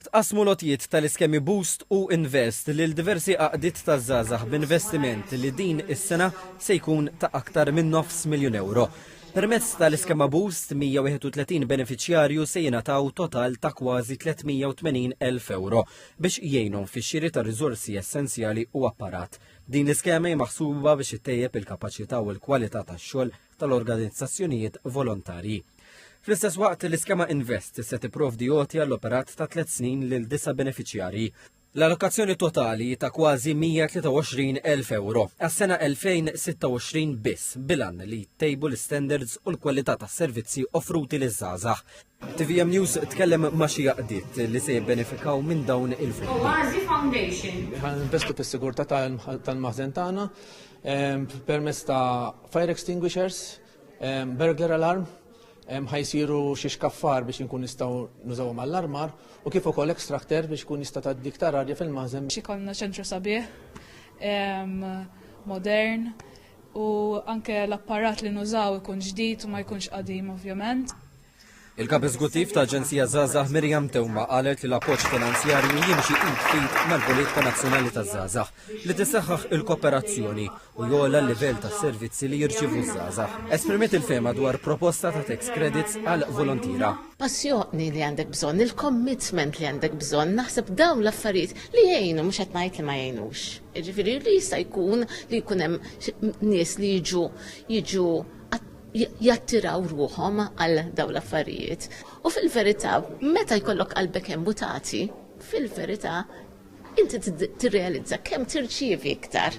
Tqassmu l-għotjiet tal-iskemi Boost u Invest lil diversi għaqdiet taż-żgħażagħ b'investiment li din is-sena se jkun ta' aktar minn nofs miljun ewro. Permezz tal-iskema Boost, 131 benefiċjarju se jingħataw total ta' kważi 380 elf ewro biex jgħinhom fix-xiri ta' riżorsi essenzjali u apparat. Din l-iskema hi maħsuba biex ittejjeb il-kapaċità u l-kwalità tax-xogħol tal-organizzazzjonijiet volontarji. Fl-istess waqt, l-iskema Invest se tipprovdi għoti għall-operat ta' tliet snin lil disa' benefiċjarji. L-allokazzjoni totali ta' kważi 123,000 euro għas-sena 2026 biss bilan li jittejbu l-istandards u l-kwalità tas-servizzi offruti liż-żgħażagħ. TVM News tkellem ma' xi għaqdiet li se jibbenefikaw minn dawn il-fondi. Oazi Foundation. Ħan investu fis-sigurtà tal-maħżen tagħna ehm, permezz ta' fire extinguishers, ehm, burglar alarm, ehm, ħajsiru xi xkaffar biex inkun nistgħu nużaw mal-armar u kif ukoll extractor biex kun jista' tgħaddi iktar arja fil-maħżen. Xi kollna ċentru sabiħ, modern, u anke l-apparat li nużaw ikun ġdid u ma jkunx qadim ovvjament. Il-kap eżguttiv ta' Aġenzija Zazah Mirjam Tewma qalet li l-appoġġ finanzjarju jimxi id fit mal-politika nazzjonali ta' Zazah li tisaħħaħ il-kooperazzjoni u jola l-livell ta' servizzi li jirċivu Zazah. Esprimiet il-fema dwar proposta ta' tax credits għal volontira. Passjoni li għandek bżonn, il-commitment li għandek bżonn, naħseb dawn l-affarijiet li jgħinu mhux qed ngħid li ma jgħinux. Ġifiri li jista' jkun li jkun hemm nies li jiġu jiġu jattiraw ruhom għal dawn l-affarijiet. U fil-verità, meta jkollok qalbek hemm mutati, fil-verità inti tirrealizza kemm tirċievi iktar.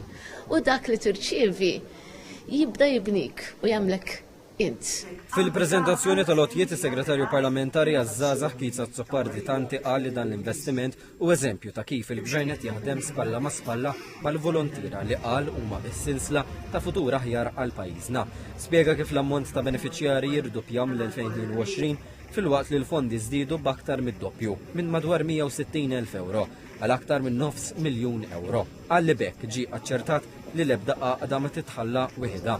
U dak li tirċievi jibda jibnik u jagħmlek Int. Fil-preżentazzjoni tal-għotjiet is-Segretarju Parlamentari għaż-Żgħażagħ Keith Azzopardi Tanti qal li dan l-investiment hu eżempju ta' kif il-Gvern qed jaħdem spalla ma' spalla mal-volontiera li qal huma s-sinsla ta' futur aħjar għal pajjiżna. Spjega kif l-ammont ta' benefiċjarji jirduppja mill-2022 filwaqt li l-fondi żdiedu b'aktar mid-doppju minn madwar 160,000 euro għal aktar minn nofs miljun euro. Għalli bekk ġi aċċertat li l-ebda għaqda ma titħalla wieħedha.